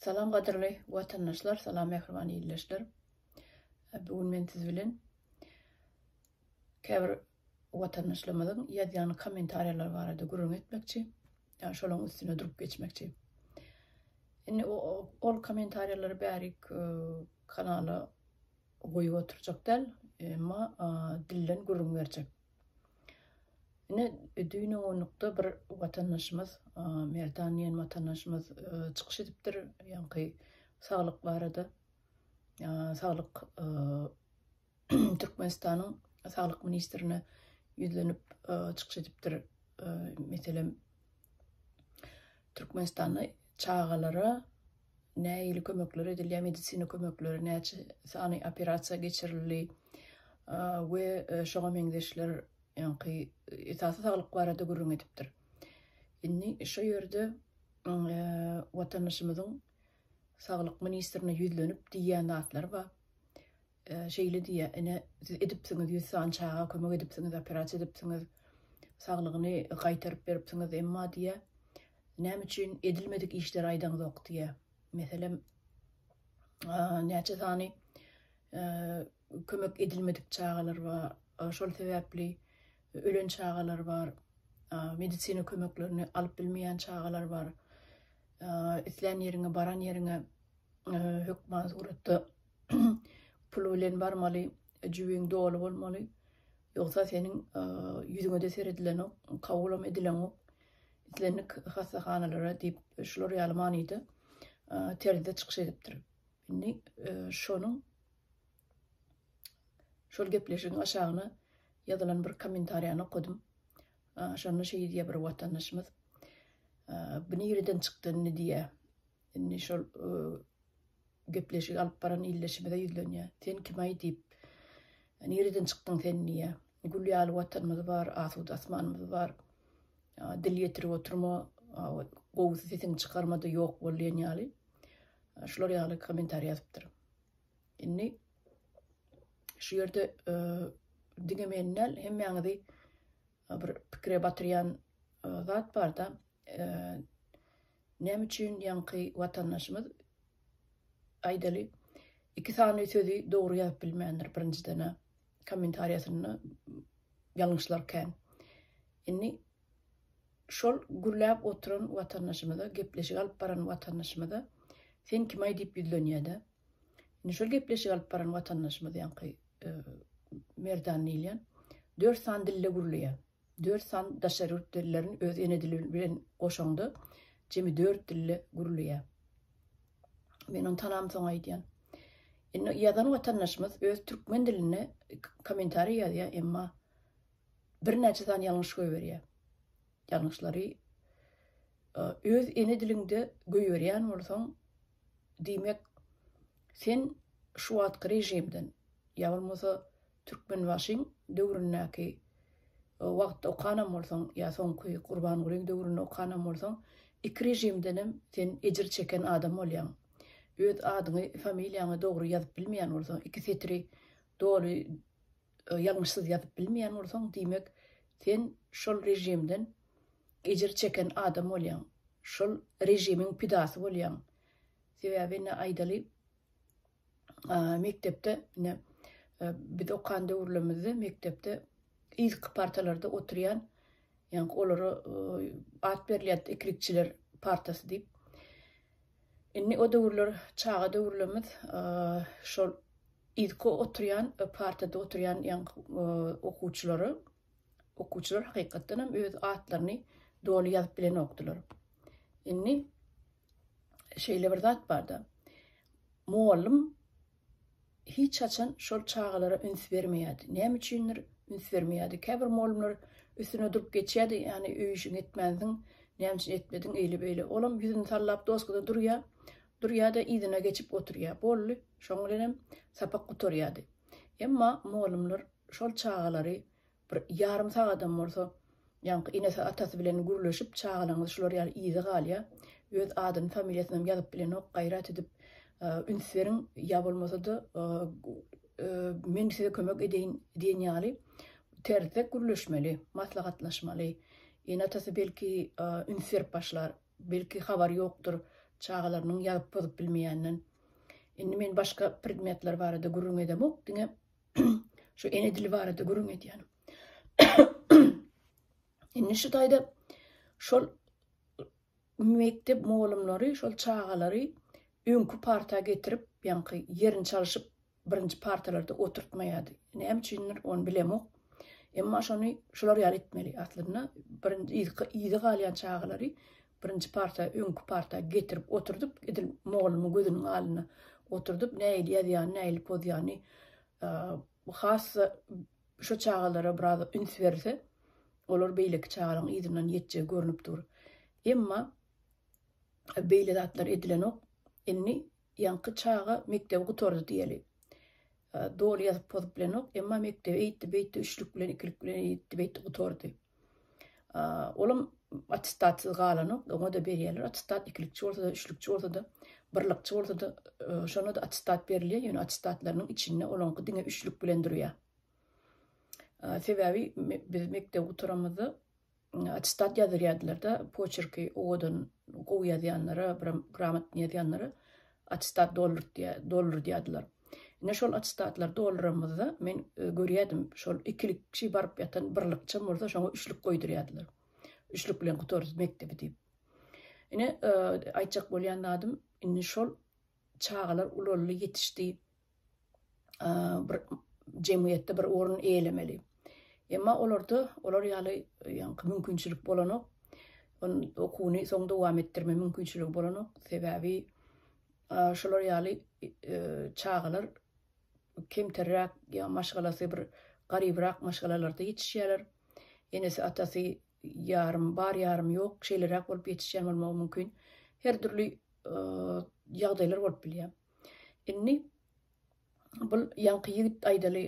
Salam gadyrly watandaşlar, salam mähriban ildeşler. Bu gün men siz bilen käbir watandaşlarymyzyň ýazýan kommentariýalary barada gürrüň etmekçi, ýa şolaryň üstüne durup geçmekçi. Indi o, ol kommentariýalary bärik e, kanala goýup oturjak däl, emma dilden gürrüň berjek. Ine, düýn owunlykda bir watandaşymyz, Merdan diýen watandaşymyz çykyş edipdir, ýaňky saglyk barada, saglyk Türkmenistanyň saglyk ministrine ýüzlenip çykyş edipdir. Meselem, Türkmenistanda çagalara nähili kömekler edilýär, medisina kömekleri, näçe sany operasiýa geçirildi we şoňa meňzeşler ýaňky esasy saglyk barada gürrüň edipdir. Indi şu ýerde watandaşymyzyň saglyk ministrine ýüzlenip diýýän zatlary bar. şeýle diýýär, Ine, siz edipsiňiz, ýüz sany çaga kömek edipsiňiz, operasiýa edipsiňiz, saglygyny gaýtaryp beripsiňiz, emma diýýär, näme üçin edilmedik işleri aýdaňzok diýýär. Meselem, näçe sany kömek edilmedik çagalar bar, şol sebäpli ölen çagalar bar, medisina kömeklerini alyp bilmeýän çagalar bar, islän ýeriňe, baran ýeriňe hökman suratda Pul bilen barmaly, jübiň doly bolmaly. Ýogsa seniň ýüzüňe-de seredilenok, kabulam edileňok. Islendik hassahanalara diýip, şular ýaly manyda terzde çykyş edipdir. Indi şonuň şol gepleşigiň aşagyna ýazylan bir kommentariýany okadym. Şonda şeýdýär bir watandaşymyz. Bu nireden çykdy indi diýýär. Indi şol gepleşigi alyp baran ildeşimize ýüzlenýär. Sen kim-aý diýip, nireden çykdyň sen diýýär. Gül ýaly watanymyz bar, asuda asmanymyz bar. Dil ýetirip oturma, gowusy sesiňi çykarma-da ýok bol diýen ýaly. Şular ýaly kommentariý ýazypdyr. Indi şu ýerde diňe meni däl, hemmäňizi bir pikire batyrýan zat barda, näme üçin ýaňky watandaşymyz aýdaly iki sany sözi dogry ýazyp bilmändir birinjiden kommentariýasynda ýalňyşlar kän. Indi şol gürläp oturan watandaşymyza, gepleşik alyp baran watandaşymyza sen kim-aý diýip ýüzlenýär-de. Indi şol gepleşik alyp baran watandaşymyz ýaňky Merdan diýilýän dört sany dilde gürleýär. Dört san daşary ýurt dillerini öz ene dili bilen goşaňda jemi dört dilde gürleýär. Men ony tanam soň aýdýan. Indi ýazan watandaşymyz öz türkmen dilinde kommentariý ýazýar, emma birnäçe sany ýalňyş goýberýär. Ýalňyşlary öz ene diliňde goýberýän bolsaň, diýmek, sen şu wagtky režimden, ýa bolmasa Türkmenbaşyň döwründäki wagtda okanam bolsaň, ýa soňky Gurbangulyň döwründe okanam bolsaň, iki režimdenem sen ejir çeken adam bolýaň. Öz adyňy, familiýaňy dogry ýazyp bilmeýän bolsaň, iki setiri doly ýalňyşsyz ýazyp bilmeýän bolsaň, diýmek, sen şol režimden ejir çeken adam bolýaň, şol režimiň pidasy bolýaň. Sebäbi indi aýdaly, mekdepde indi e, biz okan döwürlerimizde mekdepde ilk partalarda oturýan ýa olara e, at berilýär eklikçiler partasy diýip. Indi o döwürler çaga döwürlerimiz şol yzky oturýan partada oturýan ýaňky okuwçylary okuwçylar hakykatdan hem öz atlaryny doly ýazyp bilenokdylar. Indi şeýle bir zat barda. Mugallym hiç haçan şol çagalara üns bermeýärdi. Näme üçindir, üns bermeýärdi. Käbir mugallymlar üstüne durup geçýärdi, ýagny öý işiňi etmänsiň, näme üçin etmediň, eýle-beýle. Olam ýüzüni sallap doskada durýar, durýar-da yzyna geçip oturýar. Boldy, şoň bilenem sapak gutarýardy. Emma mugallymlar şol çagalary Bir ýarym sagadam bolsa, ýaňky enesi, atasy bilen gürleşip, çagalaňyz şular ýaly yza galýa. Öz adyny, familiýasynam ýazyp bilenok, gaýrat edip üns beriň, ýa bolmasa-da men size kömek edeýin diýen ýaly terzde gürleşmeli, maslahatlaşmaly. Ene-atasy belki üns berip başlar, belki habary ýokdur çagalarynyň ýazyp-pozup bilmeýänden. Indi men başga predmetler barada gürrüň edemok, diňe Şu ene dili barada gürrüň edýänim. Indi şu taýda şol mekdep mugallymlary şol çagalary öňki parta getirip, ýaňky ýerini çalyşyp, birinji partalarda oturtmaýardy. Näme üçindir, ony bilemok. Emma şony şular ýaly etmeli. Aslynda birinji ýygy galýan çagalary Birinji parta öňki parta getirip oturdyp, edil mugallymyň gözüniň alnyna oturdyp, nähili ýazýany, nähili pozýany has-da şu çagalara biraz üns berilse, olar beýleki çagalaryň yzyndan ýetjegi görnüp dur. Emma beýle zatlar edilenok. Indi ýaňky çaga mekdebi gutardy diýeli. Doly ýazyp pozup bilenok, emma mekdebe eýtdi-beýtdi, üçlük bilen, ikilik bilen eýtdi-beýtdi gutardy. Olam attestatsyz galanok, oňa-da berýärler attestat, ikilikçi bolsa-da, üçlükçi bolsa-da, birlikçi bolsa-da, şonda-da attestat berilýär, ýöne attestatlarynyň içinde olaňky diňe üçlük bilen durýar. Sebäbi biz mekdebi gutaramyzda Attestat ýazdyrýardylar-da, poçerki owadan, gowy ýazýanlara, gramotny ýazýanlara attestat doldurdýardylar. Ine, şol attestatlary dolduranymyzda men görýärdim, şol ikilik kişi baryp ýatan bir lykçam bolsa, şoňa üçlük goýdurýardylar. Üçlük bilen gutardyk mekdebi diýip. Ine, aýtjak bolýan zadym, indi şol çagalar ulaldy, ýetişdi. bir jemgyýetde bir orun eýelemeli. Emma olarda olar ýaly ýaňky mümkinçilik bolanok. On okuwyny soň dowam etdirme mümkinçiligi bolanok. Sebäbi şolar ýaly çagalar kemterräk ýa maşgalasy bir garybrak maşgalalarda ýetişýärler. Enesi atasy ýarym bar ýarym ýok şeýleräk bolup ýetişýän bolmagy mümkin. Her dürli ýagdaýlar bolup bilýär. Indi bul ýaňky ýigit aýdaly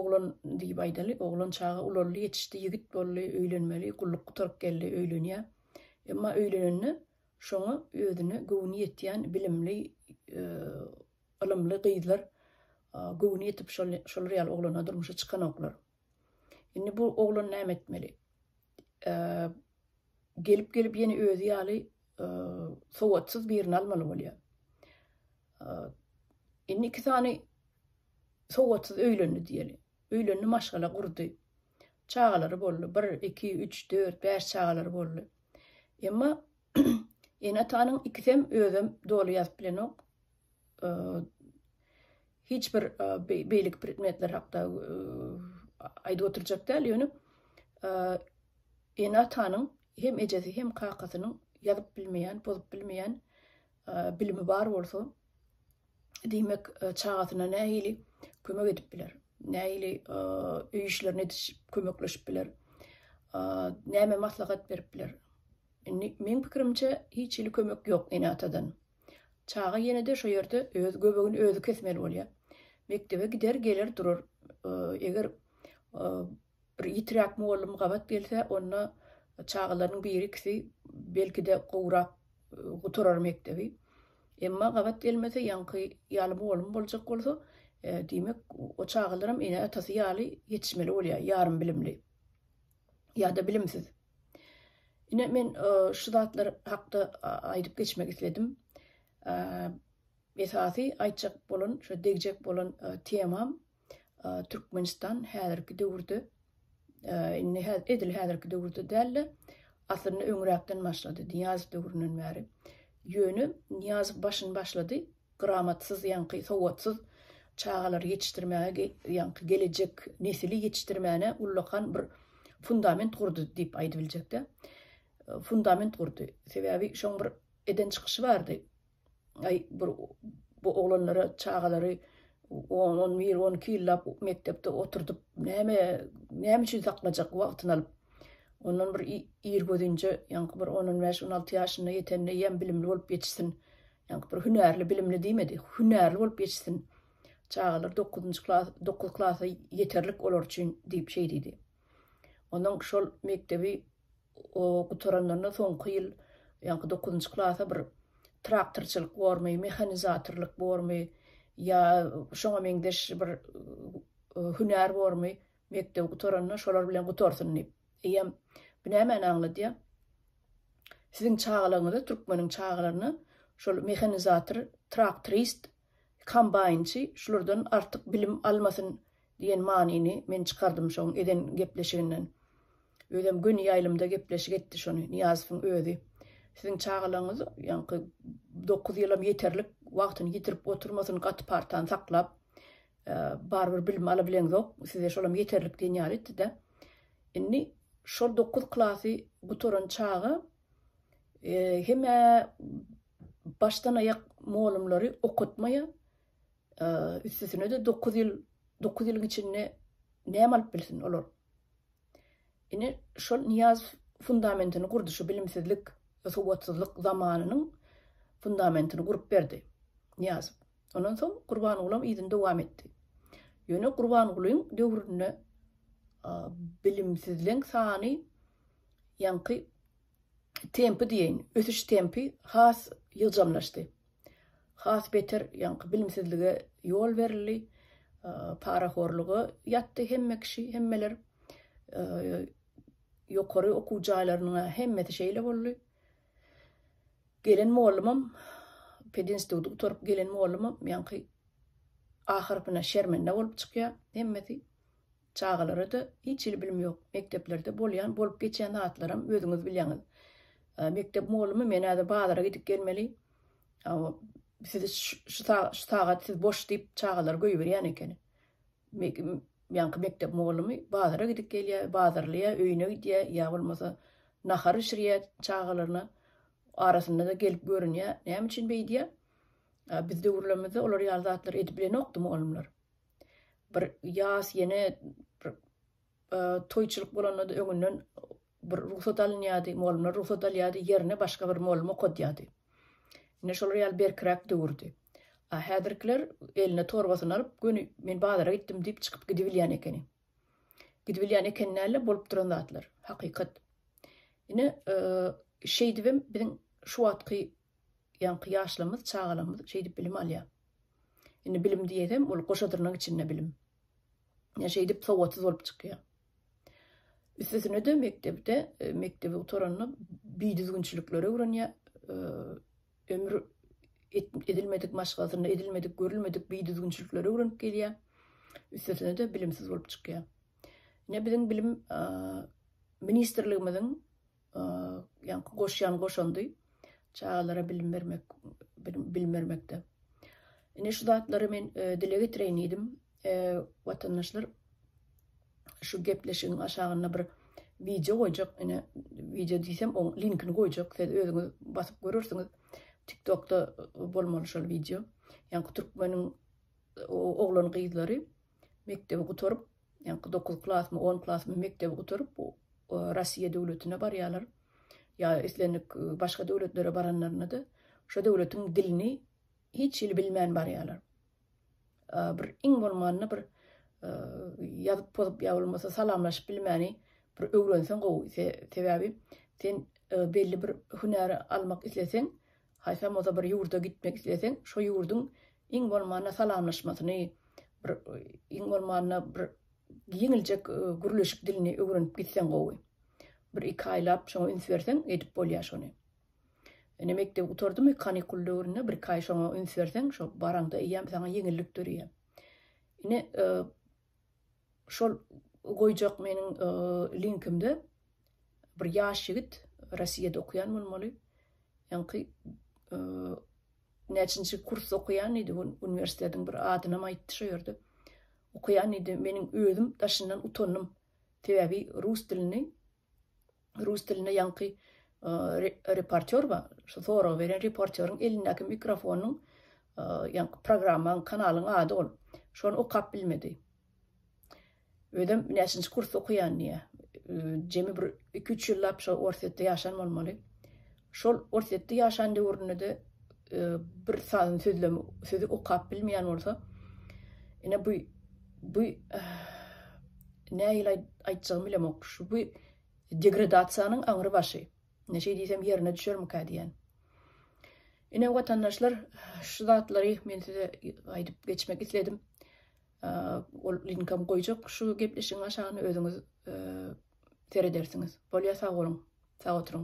oglan diýip aýdaly, oglan çaga ulaldy, ýetişdi, ýigit boldy, öýlenmeli, gulluk gutaryp geldi, öýlenýär. Emma öýlenende şoňa özüne göwni ýetýän bilimli, ylymly gyzlar göwni ýetip şolar ýaly oglana durmuşa çykanoklar. Indi bu oglan näme etmeli? Gelip-gelip ýene özi ýaly sowatsyz birini almaly bolýar. Indi iki sany sowatsyz öýlendi diýeli. Öýlendi, maşgala gurdy. Çagalary boldy. 1, 2, 3, 4, 5 çagalary boldy. Emma ene-atanyň ikisem özem doly ýazyp bilenok. hiç bir beýleki predmetler hakda aýdyp oturjak däl, ýöne ene-atanyň hem ejesi hem kakasynyň ýazyp bilmeýän, bozup bilmeýän bilimi bar bolsa, diýmek, çagasyna nähili kömek edip biler, nähili öý işlerini edişip, kömekleşip biler, näme maslahat berip biler? Indi meň pikirimçe, hiç hili kömek ýok ene-atadan. Çaga ýene-de şo ýerde öz göbegini özi kesmeli bolýar. Mekdebe gider, geler durar. Eger bir ýitiräk mugallym gabat gelse, onda çagalarynyň biri-ikisi belki-de gowrak gutarar mekdebi. Emma gabat gelmese, ýaňky ýaly mugallym boljak bolsa, diýmek, o çagalaram ene-atasy ýaly ýetişmeli bolýar, ýarym bilimli ýa-da bilimsiz. Ine men şu zatlar hakda aýdyp geçmek isledim. Esasy aýtjak bolan, şu degjek bolan temam Türkmenistan häzirki döwürde indi edil häzirki döwürde dälde, aslynda öňräkden başlady, Niýazow döwründen bäri. Ýöne Niýazow başyny başlady, Gramatsyz ýaňky sowatsyz çagalary ýetişdirmäge ýaňky gelejek nesili ýetişdirmäne ullakan bir fundament gurdy diýip aýdyp biljekdä. Fundament gurdy. Sebäbi şoň bir eden çykyşy bardy. Aý bir bu oglanlara çagalary on on bir on iki ýyllap mekdepde oturdyp näme näme üçin saklajak wagtyny alyp. Ondan bir ir gözinje ýaňky bir on on bäş on alty ýaşyna ýetende ýem bilimli bolup ýetişsin. Ýaňky bir hünärli, bilimli diýmedi. Hünärli bolup ýetişsin. Çagalar dokuzynjy klas, dokuz klasa ýeterlik olar üçin diýip şeý diýdi. Onuň şol mekdebi gutaranlarynda soňky ýyl ýaňky dokuzynjy klasa bir traktorçylyk bormy, mehanizatorlyk bormy ýa şoňa meňzeş bir hünär bormy, Mekdebi gutaranda şolar bilen gutarsyn diýip. Eýýäm bu nämäni aňladýar? Siziň çagalaryňyza, türkmeniň çagalaryna şol mehanizator, traktorist, kombaýnçy şulardan artyk bilim almasyn diýen manyny men çykardym şoň eden gepleşiginden. Özem göni ýaýlymda gepleşik etdi şony Nyýazowyň özi. Siziň çagalaryňyz ýaňky dokuz ýylam ýeterlik wagtyny ýitirip oturmasyn gaty partany saklap, Barybir bilim alabileňzok, size şolam ýeterlik diýen ýaly etdi-de. Indi şol dokuz klasy gutaran çaga hemä başdan-aýak mugallymlary okatmaýar. Üstesine-de dokuz ýyl, dokuz ýylyň içinde näme alyp bilsin olar? Ine, şol Nyýazow fundamentini gurdy, şu bilimsizlik, sowatsyzlyk zamanynyň fundamentini gurup berdi Nyýazow. Ondan soň Gurbangulam yzyny dowam etdi. Ýöne Gurbangulyň döwründe bilimsizleň sany ýaňky tempi diýeýin, ösüş tempi has ýygjamlaşdy. Has beter ýaňky bilimsizlige ýol berildi, parahorluga ýatdy hemme kişi, hemmeler. Ýokary okuw jaýlarynyň-a hemmesi şeýle boldy. Gelen mollumam, pedinstituty gutaryp gelen mollumam ýaňky ahyrkyna şermende bolup çykýar hemmesi. Çagalara-da hiç hili bilim ýok. Mekdeplerde bolýan, bolup geçýän zatlaram özüňiz bilýäňiz. Mekdep mugallymym, men häzir bazara gidip gelmeli. Sizi şu sagat siz boş diýip, çagalary goýberýän ekeni. Ýaňky mekdep mugallymy bazara gidip gelýär, bazarlaýar, öýüne gidýär, ýa bolmasa nahar bişirýär çagalaryna. Arasynda-da gelip görünýär. Näme üçin beýdýär? Biz döwürlerimizde olar ýaly zatlary edip bilenokdy mugallymlar. bir ýas ýene bir toýçylyk bolanda-da öňünden bir rugsat alynýardy, mugallymlar rugsat alýardy, ýerine başga bir mugallym okadýardy. Ine şolar ýaly berkiräk döwürdi. A häzirkiler eline torbasyny alyp, göni men bazara gitdim diýip çykyp gidibilýän ekeni. Gidibilýän ekeni däl-de, bolup duran zatlar, hakykat. Ine, şeýdibem biziň şu wagtky ýaňky ýaşlarymyz, çagalarymyz şeýdip bilim alýar. Indi bilim diýesem, ol goşa dyrnak içinde bilim. Ýa şeýdip sowatsyz bolup çykýar. Üstesine de mekdepde, e, mekdebi gutaranda bidüzgünçilikleri öwrenýär. E, ömür edilmedik maşgalasynda edilmedik, görülmedik bidüzgünçilikleri öwrenip gelýär. Üstesine de bilimsiz bolup çykýar. Ne biziň bilim e, ministrligimiziň Ýaňky goşýan goşandy çagalara bilim bermek bilim bermekde. Ine şu zatlary men dile getireýin diýdim. Watandaşlar şu gepleşigiň aşagynda bir wideo goýjak, ine wideo diýsem, oň linkini goýjak, siz özüňiz basyp görersiňiz. TikTokda bolmaly şol wideo. Ýa-da türkmeniň oglan gyzlary mekdebi gutaryp, ýaňky dokuz klasmy, on klasmy mekdebi gutaryp, Russiýa döwletine barýarlar. Ýa islendik başga döwletlere baranlarynda-da, şo döwletiň dilini hiç hili bilmän barýarlar. Bir iň bolmanda bir ýazyp pozup ýa bolmasa salamlaşyp bilmäni bir öwrenseň gowy. Sebäbi sen belli bir hünäri almak isleseň, Haýsam bolsa bir ýurda gitmek isleseň, şo ýurduň iň bolmanda salamlaşmasyny, bir iň bolmanda bir ýeňiljek gürleşik dilini öwrenip gitseň gowy. Bir-iki aýlap şoňa üns berseň, edip bolýar şony. Ine, mekdebi gutardymy, kanikul döwründe bir-iki aý şoňa üns berseň, şo baraňda eýýäm saňa ýeňillik döreýär. Ine, Şol goýjak meniň linkimde bir ýaş ýigit, Rossiýada okaýan bolmaly, ýaňky näçinji kursda okaýan diýdi, uniwersitetiň bir adynam aýtdy şo ýerde. Okaýan diýdi, meniň özüm daşyndan utandym, sebäbi rus dilini rus dilinde ýaňky reportýor bar, şu soragy beren reportýoryň elindäki mikrofonyň ýaňky programmaň, kanalyň ady ol. Şony okap bilmedi. Özem näçinji kursda okaýan diýýär. Jemi bir iki-üç ýyllap şo Orsýetde ýaşan bolmaly. Şol Orsýetde ýaşan döwründe-de bir sazyn sözlem sözi okap bilmeýän bolsa, ine bu bu nähili aý aýtjagymy bilemok. Şu bu degradasiýanyň aňry başy. Ine şeý diýsem ýerine düşermikä diýýän. Ine watandaşlar, şu zatlary men size aýdyp geçmek isledim. Ol linkam goýjak şu gepleşigiň aşagyna özüňiz seredersiňiz. Bolýa sag boluň. Sag oturyň.